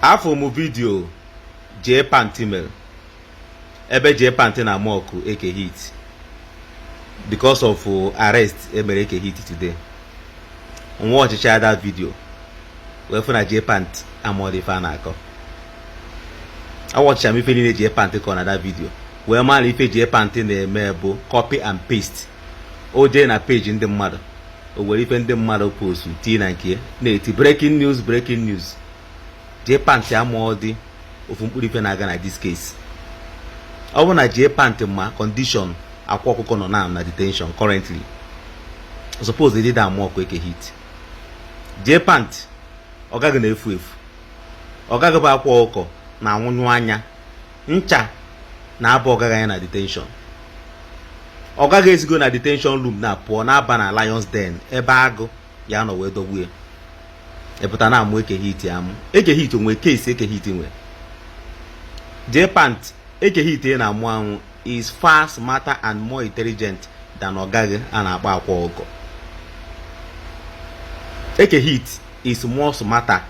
afụ m vidio jee pantị mere ebe jee pantị na-amọkụ eke hit because of uh, arrest emere eke hit today m wọchịchaa dat vidio wee fụ na jee pantị amarọ dị ife a na-akọ awọchịcha m ife niile jee pantị kọ na dat vidio wee ma na ife jee pantị na-eme bụ copy and paste o jee na peji ndị mmadụ o were ife ndị mmadụ postu tii na nke na-eti breaking news breaking news jee pantị amarọ dị ofu mkpụrụ ife na-aga na dis case ọ bụrụ na jee pantị ma kọndishọn akwa ọkụkọ nọ na na detention currently suppose they did amọkụ eke hit jee pantị ọga gị na-efu efu ọga gị bụ akwa ọkụkọ na anwụnyụ anya ncha na-aba ọga gị anya na detenshọn ọga gị esigo na detenshọn rum na-apụ na-aba na Lions Den ebe agụ ya-anọ wee dọgbu ya ị pụta na-amụ eke hit amụ eke hit onwe kesi eke hit nwe jee pant eke hit ị na-amụ amụ is far smarter and more intelligent than ọga gị a na-akpọ akwa ọkụkọ eke hit is more smarter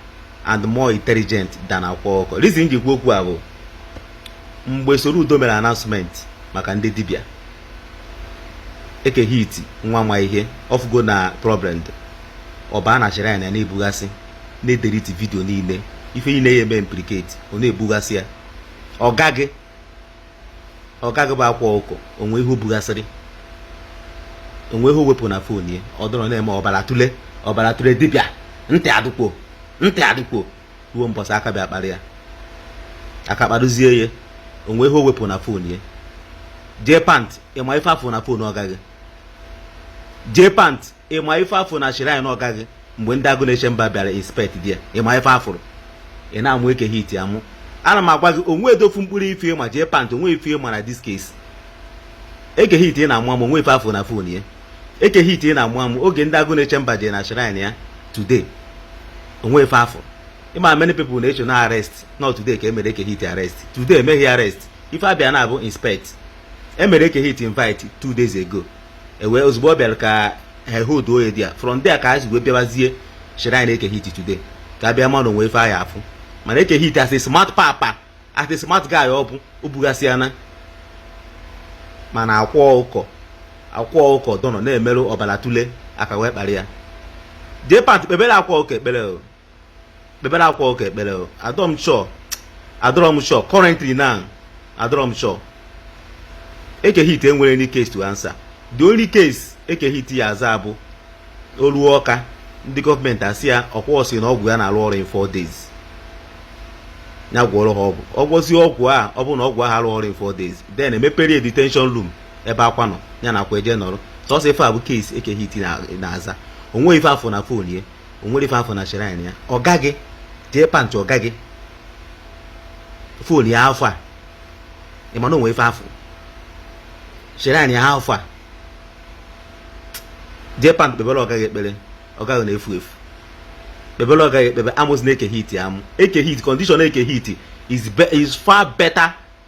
and more intelligent than akwa ọkụkọ reason ji kwu okwu a bụ mgbe Soludo mere announcement maka ndị dibịa eke hit nwa ma ihe ọ fụgo na problem ọba na chịrị anya na-ebugasị na-edeliti vidio niile ife niile ya-eme implicate ọ na-ebugasị ya ọga gị ọga gị bụ akwa ọkụkọ onwe ihe o bugasịrị onwe ihe o wepụ na fon ya ọ dọrọ na-eme ọbara tụle ọbara tụle dibịa ntị adịkwo ntị adịkwo ruo mbọsị aka bịa kpara ya aka kparazie ya onwe ihe o wepụ na fon ya jee pant ị ma ife a fụ na fon ọga gị jee pant ịma ife a fụ na shrine ọga gị mgbe ndị agụ na-eche mba bịara inspect there ịma ife a fụrụ ị na-amụ eke hit amụ ana m agwa gị onwedị ofu mkpụrụ ife ịma jee pant onwe ife ịma na this case eke hit ị na-amụ amụ onwe ife a fụ na fon ya eke hit ị na-amụ amụ oge ndị agụ na-eche mba jee na shrine ya today onwe ife a fụ ị ma many people na-eche na arrest na today ka emere eke hit arrest today emeghị arrest ife a bịara bụ inspect emere eke hit invite two days ago ewee ozugbo ọ bịara ka ha hold ya there from there ka ha wee bịabazie shrine eke hit today ka a bịa ma na onwe ife a ya-afụ mana eke hit as a smart papa as a smart guy ọ bụ o bugasịana mana akwa ọkụkọ akwa ọkụkọ dọnọ na-emerụ ọbara tule aka wee kpara ya jee pant kpebere akwa ọkụkọ ekpere kpebere Akwa Ọkụkọ ekpere adọrọ m sure adọrọ m sure currently now adọrọ m sure Eke Hit enwere any case to answer the only case Eke Hit ya-aza bụ o luo Ọka ndị gọọmenti asị ya ọ kwa ọ sị na ọgwụ ya na-arụ ọrụ in four days ya gwọrọ ha ọgwụ ọ gwọzie ọgwụ a ọ bụrụ na ọgwụ ahụ arụ ọrụ in four days then emepere detention room ebe Akwa nọ ya na Akwa eje nọrọ sọsọ ife a bụ case Eke Hit na-aza o nwe ife a fụ na fon ye o nwere ife a fụ na shrine ya ọga gị jee pantị ọga gị fon ya afọ a ị ma na o nwe ife a fụ shrine ya afọ a jee pantị kpebere ọga gị ekpere ọga gị na-efu efu kpebere ọga gị ekpere amụzina Eke Hit amụ Eke Hit condition Eke Hit is, be, is far better